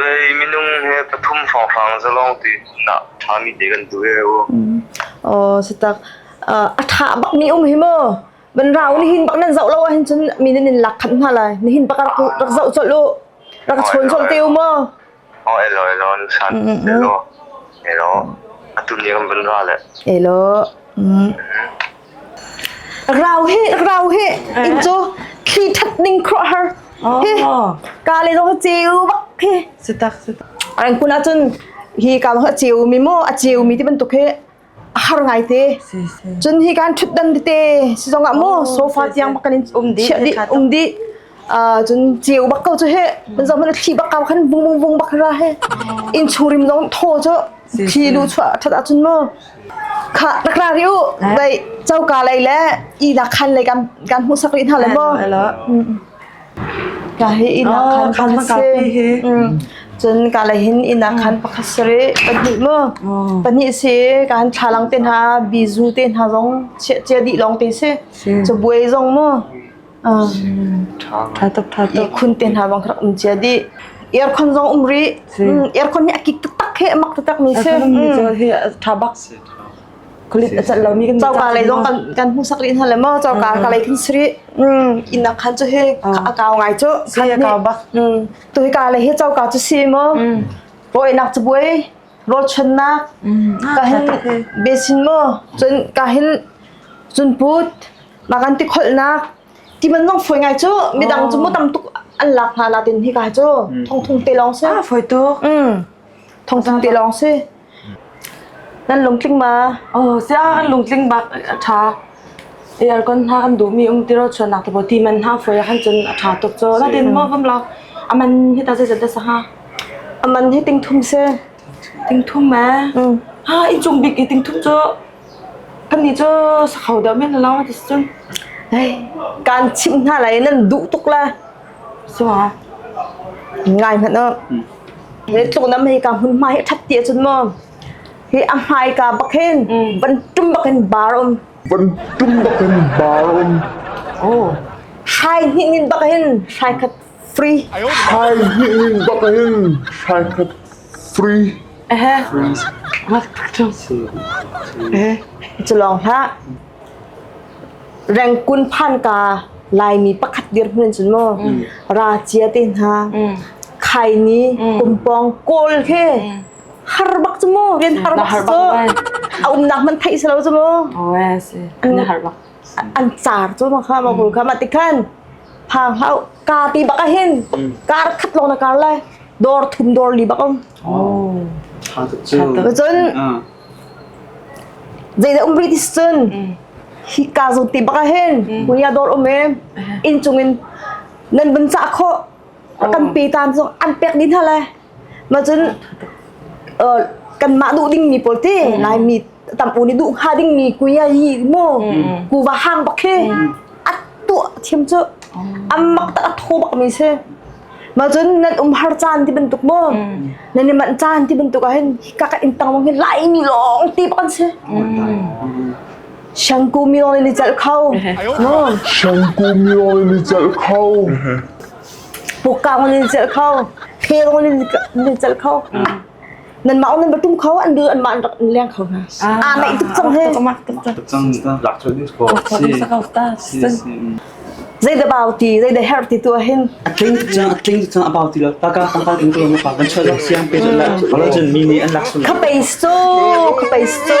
Vei minung he pathum hrawnghrang zalawng te nak ṭhami te kan duh ve u. Aw satak. A ṭha bak mi um hi maw? Ban rau ni hin bak nan zoh lo ah hin cun mi nan in lak khat hna lai. Ni hin bak rak zoh col u. Rak chawn col te u maw? O elo elo san elo. Elo. Atu ni kan ban ra le. Elo. Rau hi rau hi in cu thli that ning khruah har hi ka le dong ceu bak hi sutak sutak an kun ahcun hi ka long a ceu mi mu a ceu mi ti bantuk hi har ngai te cun hi kan thut dan te si zong ah mu sofa tiang bak kan in um di um di cun ceu bak ko cu he nan zong hmanh thi bak ka khan vung vung vung bak ra he in churim zong thaw cu thi lu chuah that ahcun mu kha rak ra ri u dai chauka lei le i na khan lei kan kan hmu sak ri hna le mo ka he i na khan pakhat se cun ka lei hin ina khan pakhat sare pahnih mo pahnih se kan thlalang te hna bizu te hna zong che di long te se cho buai zong mo Ṭha tuk ṭha tuk khun te hna bang rak um cia dih. Aircon zong um rih. Aircon hi a kik taktak he a mak taktak mi si. ṭha bak. Kulit a cat lo mi kan Choka lei zong kan kan hmu sak rih hna le maw choka ka lei khin sri. Inn khan cu he a kau ngai cu. Si a kau bak. Tu hi ka lei he choka cu si maw. Boinak cu buai. Rawlchuannak. Ka hin besin maw. Cun ka hin cun put. mah kan ti kholhnak ti man nong foi ngai cu midang cu mu tam tuk an lak hna la tin hi kai cu thong thung te long si a foi tu mm thong thung te long si nan lung tling ma oh sia an lung tling bak tha aircon ha am du mi um tiro chuanak te bo ti man ha foi han chun a tha tuk cho la tin mo gam la aman hi ta se da sa ha aman hi ting thum se Tingthum ee. Ha inchung bik i tingthum cu kannih cu sakho deuh men la lawng ti cun kaan chimh hna lai i nan duh tuk la. So ngai hmanh u. He tluknam hi ka hmun hmai ṭhat ti ahcun maw hi a hmai ka bak hin van tum bak in bar um. Van tum bak in bar um. Oh. Hrai hnih nin bak hin hrai khat Free. Thaizing ning bak in hraikhat free. Cu lawng hlah. Rengkun phan ka Laimi pakhat dirhmun cun mu. Ra cia te hna. Khai ni kumpong kawl he. Har bak cu mu. Rian har bak cu. A umnak man thai salo cu mu. Oh, si. Na har bak. an car cu ma kha ma kul kha ma ti khan phang hau ka ti bak a hin kar khat lo na kar le dor thum dor li bak um tha tuk cu cun zei da um british cun hi ka zu ti bak a hin kuya dor um e in chungin nan bun sa kho kan pe tan cu an pek din ha le ma cun kan ma du ding mi pol ti lai mi tampu ni duh hnga dingmi kuia hi mu kuva hang bak khi a tuah thiam cu ammak tak a tho bak mi si ma cun nan um har caan ti bantuk mu nan i man caan ti bantuk ah hin ka ka in tang mong hi lai mi long ti bak si shangku mi long ni chal khau no shangku mi long ni chal khau pukang ni chal khau kheng ni chal khau nanmah awng nan va ṭum kho an bu anmah an rak in leng kho hna aa naih tuk cang he Cang lakchon ni ko si si si zei da bao ti zei da her ti tu hin a tling cang a tling cang a bao ti lo ta ka tang kal in ko ma pa ban chho lo siang pe la wala chen mi ni an lak sun ka peis tu ka peis tu